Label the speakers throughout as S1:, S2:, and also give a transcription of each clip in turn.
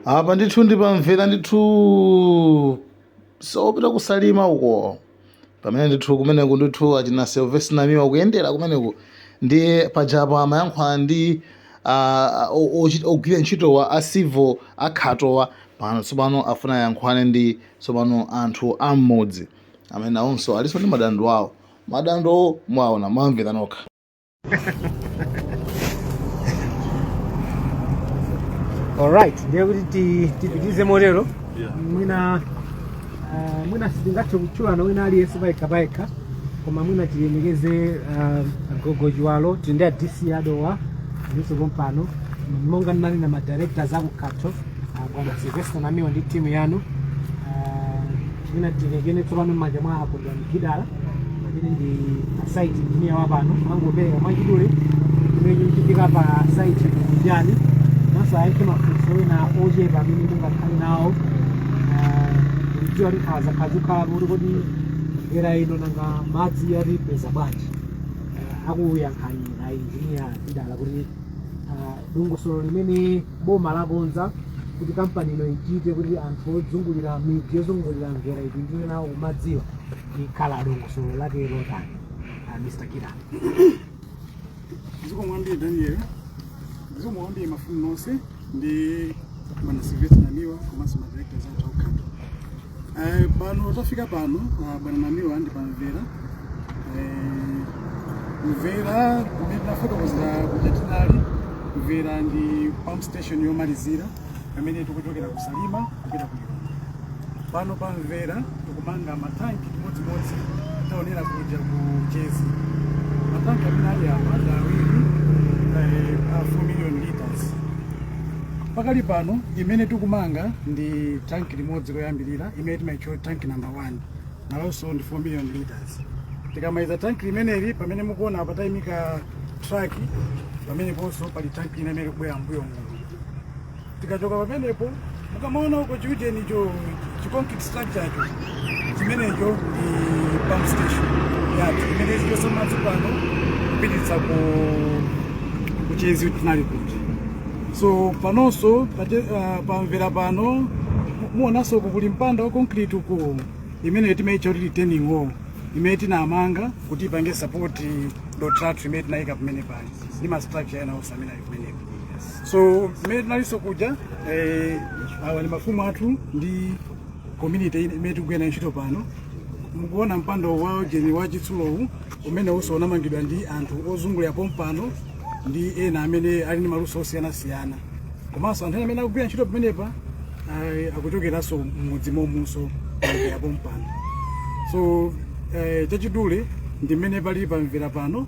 S1: apa ndithu ndi pa Mvera ndithu njira yopita ku Salima uko pamene ndithu kumeneko ndithu achina Sylvester Namiwa akuyendera kumeneku ndiye pajapo amayankhulana ndi ah, o- ochi- ogwira ntchitowa a civil a Khatowa pano tsopano afuna ayankhulane ndi tsopano anthu am'mudzi amene nawonso alinso ndi madandaulo awo madandaulo mwaona mwamvera nokha
S2: alright ndiye kuti ti- tipitirize motero Yeah. mwina ah, mwina sitingathe kutchulana wina aliyense payekha payekha koma mwina tilemekeze ah, a Gogo Chiwalo tili ndi a dc a Dowa alinso pompano monga ndanena madirectors aku Khato bwana Sylvester namiwa ndi timu yanu mwina ndilekeze tsopano m'manja mwa a Kondwani gidala amene ndi asaiti injiniya wa pano angopereka mwachidule chimene chikuchitika pa saiti kunjani ngakhalenso ayankhe mafunso ena ochepa amene mungakhale nawo ndikudziwa kuti nkhawa zakhala zikukhala kuti kodi dera lino nanga madzi tiwapeza bwanji akuyankhani a injiniya gidala kuti dongosolo limene boma lakonza kuti kampani ino ichite kuti anthu ozungulira midzi yozungulira mvera apindule nawo ku madziwa likhala dongosolo lake ndi lotani Ah, mr Gidala
S3: zikomo kwambiri daniel zikomo kwambiri mafumu nonse ndi bwana Sylvester namiwa komanso madirectors athu Eh, pano tafika pano ah, bwana namiwa ndi pamvera Eh, mvera mmene tinafotokozera kuja tinali mvera ndi pump station yomalizira pamene tikuchokera ku salima kupita ku lilongwe pano pamvera tikumanga matanki chimodzimodzi taonera kuja ku Chezi matanki amene ali apa ndi awiri eh, a 4 million liters pakali pano imene tikumanga ndi tanki limodzi loyambirira imene timaitcha tanki number 1 nalonso ndi 4 million liters tikamaliza tanki limeneli pamene mukuona apa tayimika truck pameneponso pali tanki ina imene ikubwera mbuyo muno tikachoka pamenepo mukamaona uko chiujenicho chi concrete structure cho chimenecho ndi pump station yathu imene izichotsa madzi pano kupititsa ku ku Chezi tinali kuja so panonso pache- ah, pamvera pano mu- muonanso uku kuli mpanda wa concrete uku imene timaitcha kuti retaining wall imene tinamanga kuti ipange support dothi lathu limene tinayika pamene pali ndi ma structure ena onse amene ali kumeneko so mmene tinalinso kuja eh, awa ndi mafumu athu ndi community imene tikugwira nayo ntchito pano mukuona mpando wa ujeni wa chitsulowu umenenso unamangidwa ndi anthu ozungulira pompano ndi ena amene ali ndi maluso osiyanasiyana komanso anthu ena amene akugwira ntchito pamenepa akuchokeranso m'mudzi momuno ya pompano so eh, chachidule ndi mmene pali pamvera pano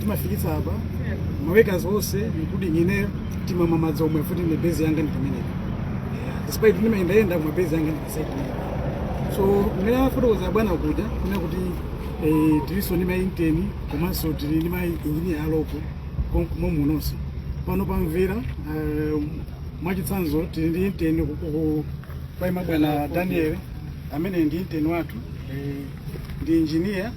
S3: timafika apa mawekazi onse including ineyo timamwa madzi omwe awo kuti ndi base yanga ndi pamenepo Yeah, despite ndimayendayenda koma base yanga ndi pa site so mmene afotokoza bwana kuja kunena kuti eh, tilinso ndi mainteni komanso tili ndi mainjiniya a local momunonso pano pamvera eh, mwachitsanzo tili ndi inteni paima bwana Daniel amene ndi inteni wathu eh, ndi injiniya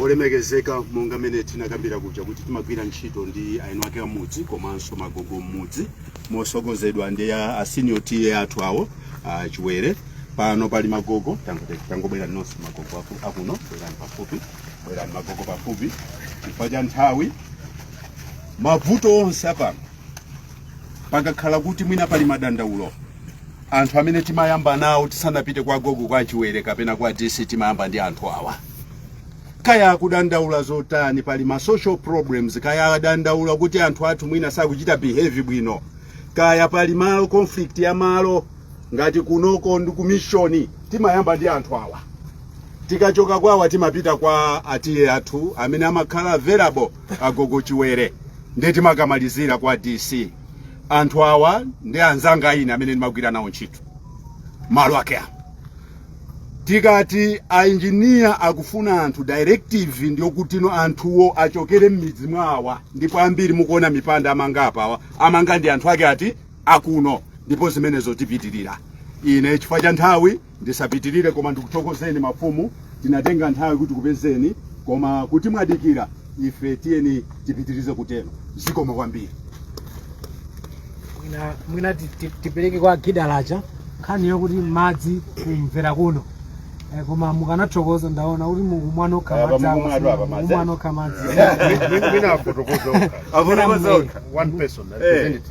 S4: olemekezeka monga mene tinakambira kuja kuti timagwira ntchito ndi eni ake amudzi komanso magogo mmudzi motsogozedwa ndi a a senior TA athu awo a chiwere pano pali magogo tangote- tangobwerani nonse magogo aku- akuno bwerani pafupi bwerani magogo pafupi chifukwa cha nthawi mavuto onse apano pakakhala kuti mwina pali madandaulo anthu amene timayamba nawo tisanapite kwa gogo kwa chiwere kapena kwa dc timayamba ndi anthu awa kaya akudandaula zotani pali ma social problems kaya adandaula kuti anthu athu mwina sakuchita behave bwino kaya pali malo conflict ya malo ngati kunoko ndi kumishoni timayamba ndi anthu awa tikachoka kwawa timapita kwa a TA athu amene amakhala available agogo chiwere ndiye timakamalizira kwa dc anthu awa ndi anzanga ine amene ndimagwira nawo ntchito malo ake awa tikati ainjiniya akufuna anthu directive ndi yokuti no anthuwo achokere m'midzi mwawa ndipo ambiri mukuona mipanda amanga apawa amanga ndi anthu ake ati akuno ndipo zimenezo zipitirira ine chifukwa cha nthawi Ndisapitilire koma ndikuthokozeni mafumu, tinatenga nthawi kuti tikupezeni koma kuti mwadikira ife tiyeni tipitirize kutero. Zikomo kwambiri. mwina
S2: mwina ti- ti- tipereke kwa gidalacha nkhani yokuti madzi ku Mvera kuno Eh, koma mukanathokoza ndaona kuti mukumwa nokha Apa madzi awa, mukumwa anthu apa madzi. mukumwa nokha madzi Mwina afotokoze okha.
S4: Afotokoze okha. One person, a Eh. representative.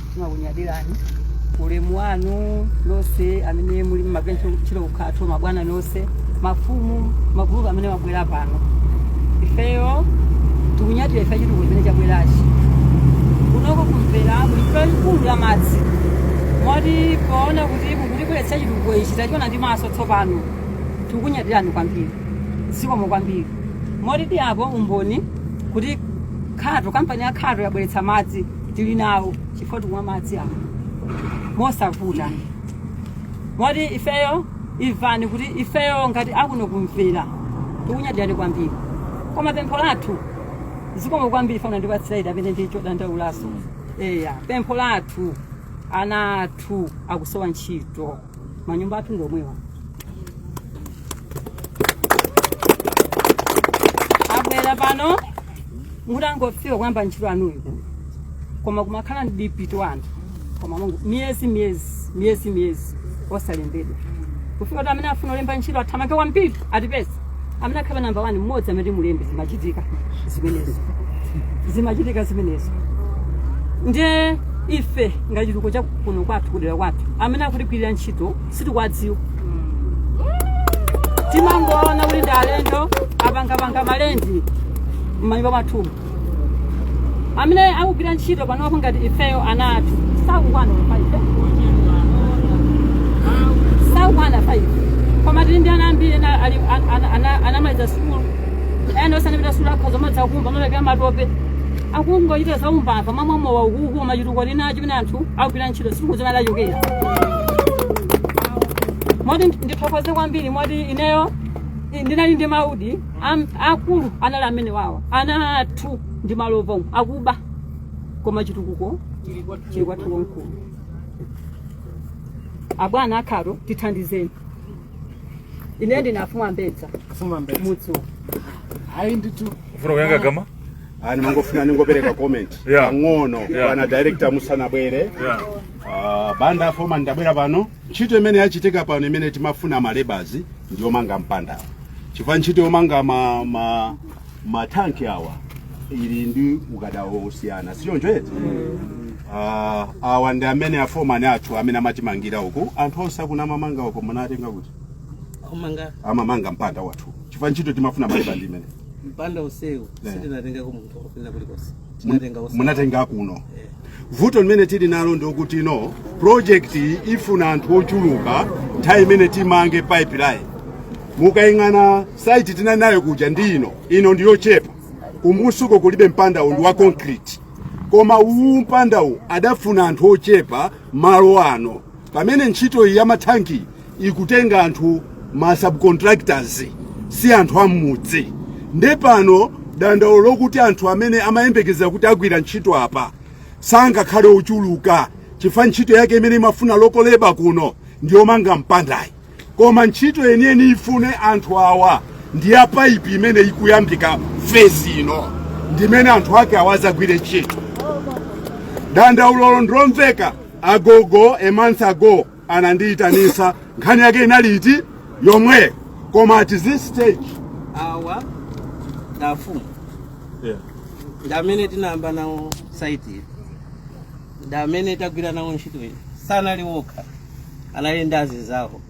S5: timakunyadirani ulemu wanu nonse amene muli mmagwira ntchito ku khato mabwana nonse mafumu magulupu amene mwabwera pano ifeyo tikunyadira ife chitukuko chimene chabwerachi kunoko ku Mvera kuli vuto likulu la madzi moti poona kuti mukutibweretsera chitukuko ichi tachiona ndi maso tsopano tikukunyadirani kwambiri zikomo kwambiri moti ndi apo umboni kuti khato kampani ya khato yabweretsa madzi tili nawo chifukwa tikumwa madzi awo mosavuta moti ifeyo imvani kuti ifeyo ngati akuno kumpira tikunyadirani kwambiri koma pempho lathu zikomo kwambiri bwana ndipatseni raiti pamene ndi chodandaulanso eya pempho lathu ana athu akusowa ntchito manyumba athu ndi omwewa abwera pano mutangofika kuyamba ntchito anuyo koma kumakhala ndikupita anthu kumalemba miyezi miyezi miyezi miyezi osalembedwa kufika kuti amene afuna kulemba ntchito athamange kwambiri atipeze amene akhale pa namba wani mmodzi amene timulembe zimachitika zimenezo zimachitika zimenezo ndiye ife ngati chitukuko cha kuno kwathu kudera kwathu amene akutigwirira ntchito sitikuwadziwa timangoona kuti ndi alendo apangapanga malendi m'manyumba mwathumu amene akugwira ntchito panopo ngati ifeyo ana athu sakukwana faifi sakukwana faifi koma tili ndi ana ambiri ena ali- an- an- ana- anamaliza sukulu ena sanapite sukulu akhoza kumadzakumba kumapereka matope akungochita zaumbava m'mamowa ukuku koma chitukuko tili nacho pena anthu akugwira ntchito sitikudziwa kochokera moti ndithokoze kwambiri moti ineyo ndinali ndi maudi Am, akulu anali amene wawa ana athu ndi malova amakuba koma chitukuko chili kwathu wamkulu abwana akhala tithandizeni ine ndine afumu ambedza Fuma mbele. mudzi
S3: uwu. Hayi ndithu. ndifuna kuyankha
S6: kapena ndimangofuna
S4: ningopereka comment Yeah. pang'ono Yeah. bwana director musanabwere Yeah. Ah, banda foma ndabwera pano Ntchito imene yachitika pano imene timafuna malebas ndi yomanga mpandawo, chifukwa ntchito yomanga ma, ma, ma tank awa ili ndi ukadaulo wosiyana, si choncho eti? Ah, awa ndi amene aforeman athu amene amatimangira uku, anthu onse amene amamanga uko munatenga kuti kumanga amamanga mpanda wathu, chifukwa ntchito timafuna maleba ndi imeneyi mpanda msewu
S7: Yeah. sitinatengeko munthu wochokera kulikonse Tinatenga usa- munatenga
S4: kuno Eh. vuto limene tili nalo ndi lokuti ino project iyi ifuna anthu ochuluka nthawi imene timamanga pipeline mukayang'ana site tinali nayo kuja ndi ino ino ndiyochepa kumtsukoko kulibe mpandawu ndi wa concrete koma uwu mpandawu adafuna anthu ochepa malo ano pamene ntchito iyi ya mathanki ikutenga anthu ma subcontractors si anthu am'mudzi nde pano dandaulo lokuti anthu amene amayembekezera kuti agwira ntchito apa sangakhale ochuluka chifukwa ntchito yake imene imafuna local labour kuno ndiyomanga mpandayi koma ntchito yeniyeni ifune anthu awa ndi ya paipi imene ikuyambika fezi ino ndimene anthu ake awa adzagwire ntchito dandaulolo ndilomveka agogo a month ago anandiyitanisa nkhani yake inali iti yomwe koma at this stage
S7: awa ndafumu yeah. ndi amene tinayamba nawo saiti iyi ndi amene tagwira nawo ntchito iyi sanali wokha anali ndi azinzawo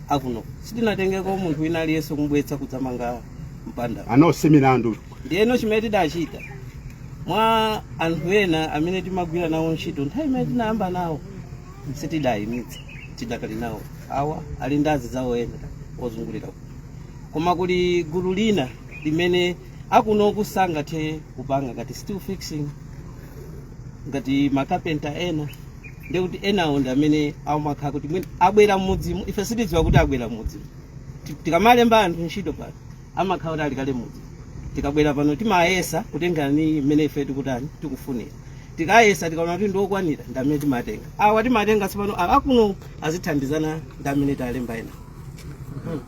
S7: akuno sitinatengeko munthu wina aliyense kumubweretsa kudzamanga mpanda uno si
S4: milandu ndiyeno chimene
S7: tidachita mwa anthu ena amene timagwira nawo ntchito nthawi imene tinayamba nawo sitidayimitse tidakali nawo awa ali ndi azinzawo ena ozungulira uku. koma kuli gulu lina limene akunoku sangathe kupanga ngati steel fixing ngati makapenta ena nde kuti enawo ndi amene amakhala kuti mwina abwera mmudzi muno ife sitidziwa kuti abwera mmudzimo Ti- tikamalemba anthu ntchito pano amakhala kuti ali kale muja tikabwera pano timayesa kutengera ndi mmene ife tikutani tikufunira tikayesa tikaona kuti ndiokwanira ndi amene timatenga awa timatenga tsopano awa akuno azithandizana ndi amene talemba
S4: ena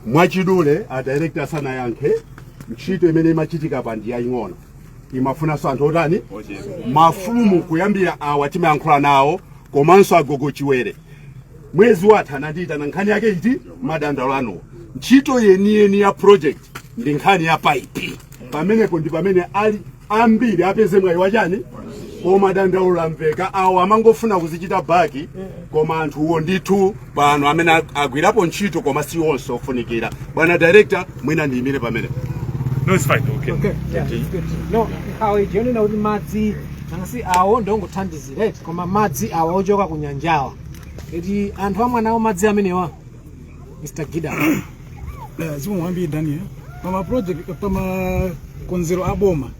S4: mwachidule a director asanayankhe ntchito imene imachitika pa ndi yaying'ono imafunanso anthu otani mafumu kuyambira awa timayankhula nawo komanso agogo chiwere mwezi watha anandiyitana nkhani yake iti madandaulo anuwo ntchito yeniyeni ya project ndi nkhani ya paipi pamenepo ndi pamene ali ambiri apeze mwayi wachani koma dandaulo lamveka awo amangofuna kuzichita back koma anthuwo ndithu pano amene ag- agwirapo ntchito koma si onse ofunikira bwana director mwina ndiyimire pamenepo No, it's
S6: fine.
S2: Okay. Okay, yeah, it's good. No, awo chonena kuti madzi anasi awo ndongothandizira eti koma madzi awa ochoka ku nyanjawa eti anthu amwa nawo madzi amenewa mr gida Eh,
S3: zikomo kwambiri daniel pama project pamakonzero a boma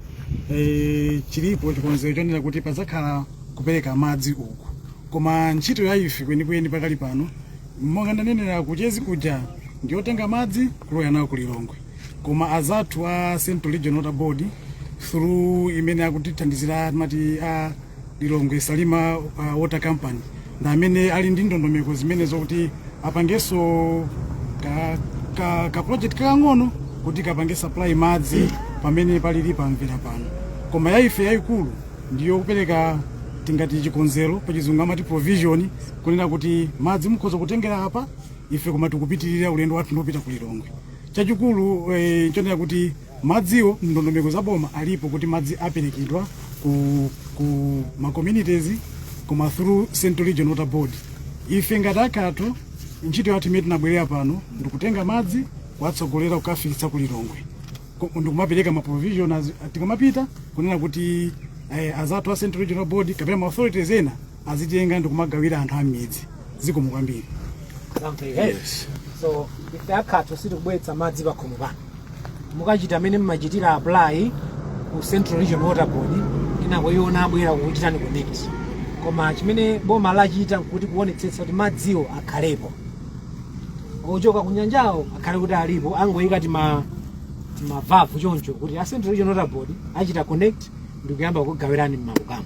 S3: eh, chilipo chikonzero chonena kuti padzakhala kupereka madzi uku koma ntchito ya ife kwenikweni pakali pano monga ndanenera kuchezi kuja ndiotenga madzi kulowa nawo ku lilongwe koma anzathu a central region water board through imene akutithandizira mati a lilongwe salima uh, water company ndi amene ali ndi ndondomeko zimene zokuti apangenso ka, ka, ka project kakang'ono kuti kapange supply madzi pamene palili pamvera pano koma yaife yayikulu ndiyo kupereka tingati chikonzero pachizungu amati provision kunena kuti madzi mukhoza kutengera apa ife koma tikupitirira ulendo wathu ndi wopita ku Lilongwe chachikulu eh, chonena kuti madziwo ndondomeko za boma zilipo kuti madzi aperekedwa ku, ku ma communities koma through Central Region Water Board ife ngati a Khato ntchito yathu imene tinabwerera pano ndikutenga madzi kuwatsogolera kukafikitsa ku Lilongwe Ko- ndikumapereka ma provision as- tikamapita kunena kuti eh, azathu a Central Region Water Board kapena ma authorities ena azitenga ndikumagawira anthu am'midzi zikomo kwambiri
S2: yes. so ife a Khato sitikubweretsa madzi pakhomo pano mukachita mmene mmachitira apply ku Central Region Water Board inakhonso iwowo abwera akuchitani connect koma chimene boma lachita nkuti kuonetsetsa kuti madziwo akhalepo ochoka ku nyanjawo akhale kuti alipo angoyika tima timavavu choncho kuti a Central Region Water Board achita connect ndikuyamba kukugawirani m'makukamo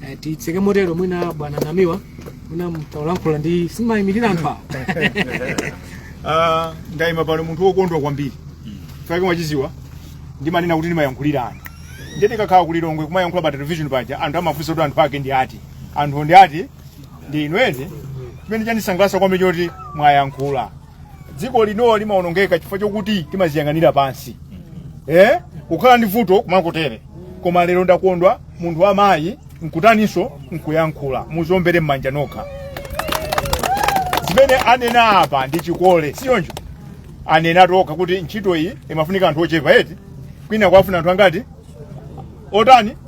S2: Eh, titseke motero mwina bwana Namiwa mwina mutayankhula inunso mumayimirira anthu awo Ah, ndayima pano munthu wokondwa
S8: kwambiri chifukwa mwachidziwa ndimanena kuti ndimayankhulira anthu ndiye ndikakhala ku Lilongwe kumayankhula pa television paja anthu amafunsa kuti anthu ake ndi ati anthu ndi ati ndi inu eti chimene chandisangalatsa kwambiri choti mwayankhula dziko lino limaonongeka chifukwa chokuti timaziyang'anira pansi eh? kukhala ndi vuto kumangotere koma lero ndakondwa munthu wamayi nkutaninso nkuyankhula mudziombere m'manja nokha zimene anena apa ndi chikole si choncho anena okha kuti ntchito iyi imafunika anthu ochepa eti kwina kwafuna anthu angati otani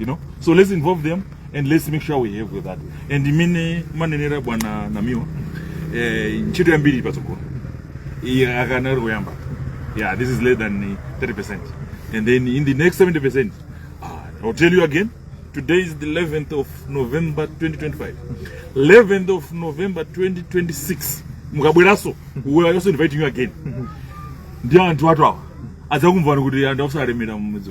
S6: you know so let's involve them and let's make sure we help with that ndi mmene mumanenera bwana Namiwa eh, ntchito yambiri ili patsogolo iyi ikanali kuyamba yeah this is less than uh, 30% and then in the next 70% uh, i'll tell you again today is the 11th of november 2025 11th of november 2026 mudzabwerenso we are also inviting you again ndi anthu athu awa adzakuuzani kuti anthu akuzalemera mumudzi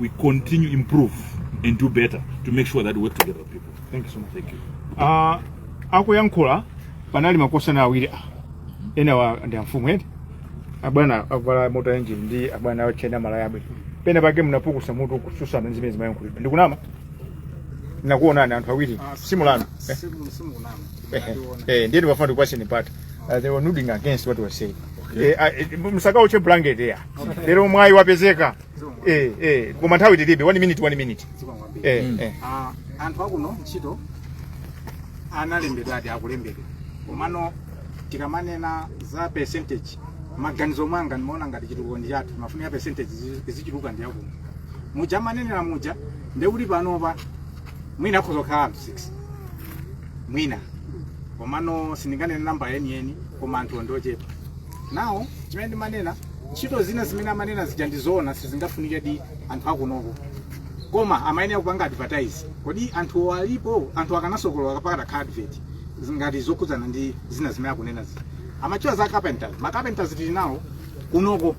S6: we'll continue improve and do better to make sure that we work together with people. Thank you so much. Thank you.
S8: Uh, akuyankhula panali makosana awiri a enawa ndi amfumu eti abwana avala zotuwa eti ndi abwana ochena malaya abwe pena pake mnapukusa mutu kutsutsana ndi zimene zimayankhulidwa ndikunama ndakuonani anthu awiri simunama eh? Eh, eh, ndiye ndimafuna ndikupatseni mpata Uh, they were nodding against what was said Eh, ah, eh, musakaluche blanket ya lero mwayi wapezeka eh eh koma nthawi tilibe 1 minute 1 minute eh
S3: eh Ah, anthu akuno ntchito analembedwa ati akulembedwa komano tikamanena za percentage maganizo mwanga ndimaona ngati chitukuko ndi chathu mafunika percentage izi- izichuluka ndi yakuno muja amanenera muja ndekuti panopa mwina akhoza kukhala anthu 6 mwina komano sindinganene namba yeniyeni koma anthu ndochepa nawo chimene ndimanena
S8: ntchito zina zimene amanena zija ndizoona sizingafunike di anthu akunoko koma amayenera kupanga advertise kodi anthuwo alipo anthu akanasokolola kapakhala ka advert ngati zokhudzana ndi zina zimene akunena zija amatchula za carpenters ma carpenters tili nawo kunoko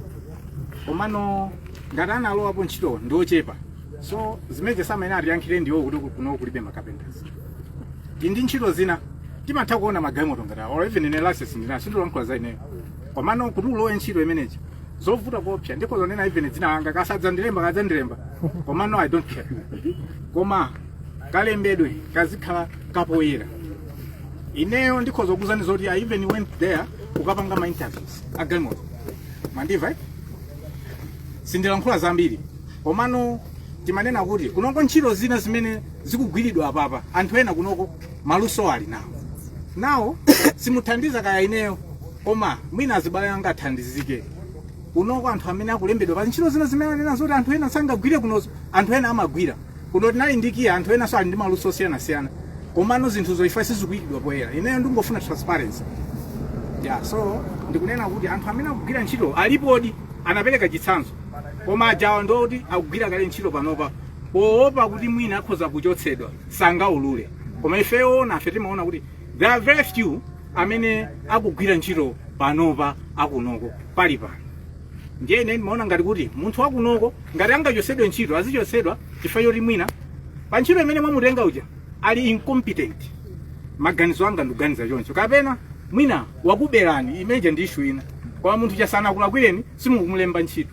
S8: komano ngati analowapo ntchito ndi ochepa so zimene samayenera atiyankhire ndi zokuti ku- kuno kulibe makapenters ndi ndi ntchito zina timatha kuona magalimoto ngati awa or even ine license ndinayo sindilankhula za ineyo komano kuti ulowe ntchito imeneji zovuta kuopsa ndipo zonena even dzina langa kasadzandilemba kadzandilemba komano i don't care koma kalembedwe kazikhala kapoyera ineyo ndikhoza kukuuzani zoti i even went there kukapanga ma interviews agalimoto mwandimva eh? sindilankhula zambiri komano timanena kuti kunoko ntchito zina zimene zikugwiridwa apapa anthu ena kunoko maluso ali nawo nawo simuthandiza kaya ineyo koma mwina azibale anga athandizike kunoko anthu amene akulembedwa pa ntchito zina zimene anena zoti anthu ena sangagwire kunoko anthu ena amagwira kuno tinali ndi kiya anthu enanso ali ndi maluso osiyanasiyana komano zinthuzo ife sizikuyikidwa poyera ineyo ndingofuna transparency yeah, so ndikunena kuti anthu amene akugwira ntchito alipodi anapereka chitsanzo koma ajawa ndi oti akugwira kale ntchito panopa poopa kuti mwina akhoza kuchotsedwa sangaulule koma ifeyo nafe timaona kuti there are very few amene akugwira ntchito panopa akunoko pali pano ndiye ine ndimaona ngati kuti munthu wakunoko ngati angachotsedwe ntchito azichotsedwa chifukwa choti mwina pa ntchito imene mwamutenga uja ali incompetent maganizo anga ndikuganiza choncho kapena mwina wakuberani imeija ndi issue ina koma munthu asanakulakwireni simukumulemba ntchito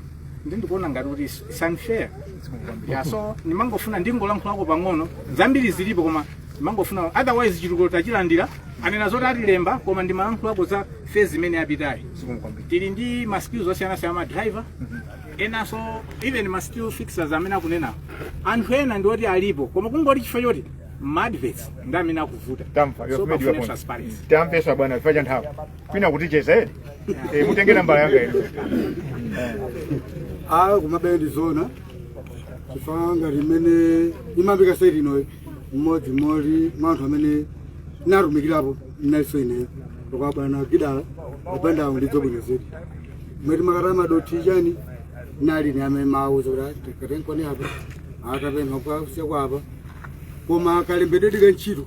S8: ndi ndikuona ngati kuti it's- it's unfair yeah, so ndimangofuna ndingolankhulako pang'ono zambiri zilipo koma ndimangofuna otherwise chitukuko tachilandira anena zoti atilemba koma ndimalankhulako za phase imene yapitayi tili ndi ma skills osiyanasiyana ma driver enanso even ma steel fixers amene akunena anthu ena ndi oti alipo koma kungoti chifukwa choti ma adverts ndi amene akuvuta tamva so pafunika transparency tamvetsa bwana chifukwa cha nthawi kwina kuti ticheze eti e, mutenge nambala
S3: yanga ino komabe ndi zona chifukwa ngati mmene imayambika saiti inoyi mmodzi mmodzi mwa anthu amene natumikirapo naiso ineyo lokwa bwana gidala kupendawo ndizo bwino zedi mmene timakata madothi chani nali ni amene mawuza kuti katengeni apa atapempha kusiya kwapa koma kalembedwe ka ntchito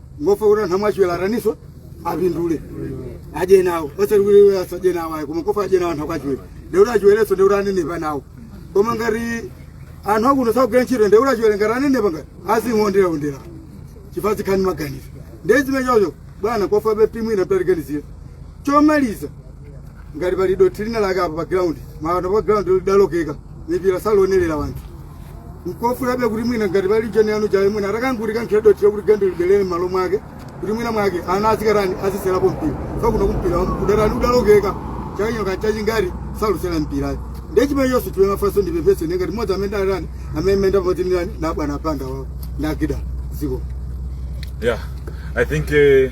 S3: nkofuna kuti anthu amwa Chiwere ataninso apindule adye nawo osati kuti asadye nawo ayi koma kofuna adye nawo anthu akwa Chiwere ndekuti a Chiwerenso ndekuti anenepa nawo koma ngati anthu akuno sakugwira ntchito ndekuti a Chiwere sangati anenepa angati azingoonderaondera chifukwa zikhale maganizo ndezimene chocho bwana kofunabe kuti mwina mutatiganizira chomaliza ngati pali dothi lina lake apa pa ground mawata pa ground lidalokeka mipira sakuonerera anthu nkofunabe kuti mwina ngati pali njira yanuyo mwina mutangotikankhira dothi yokuti gende libelere m'malo mwake kuti mwina mwake ana azikatani azisewerapo mpira zakuno kumpira udatani udalokeka chaka chino kaya chachingati sakusewera mpira ayi ndechimene inenso chiwe mafunso ndipepese ndengati mmodzi amene datani amene timayenda pamodzi ndinani ndi abwana anga awo nagida ziko yeah
S6: i think eh,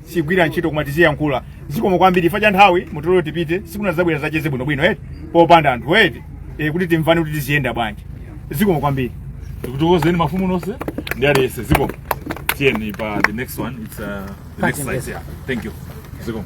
S8: sigwira ntchito koma tiziyankhula zikomo kwambiri chifukwa cha nthawi mutilole tipite tsiku lina tizabwera tizacheze bwino bwino eti popanda anthu eti e, kuti timvane kuti tiziyenda bwanji zikomo kwambiri tikutokozeni
S6: mafumu nonse ndi aliyese zikomo tiyeni pa the next one it's uh, the next slide yeah thank you zikomo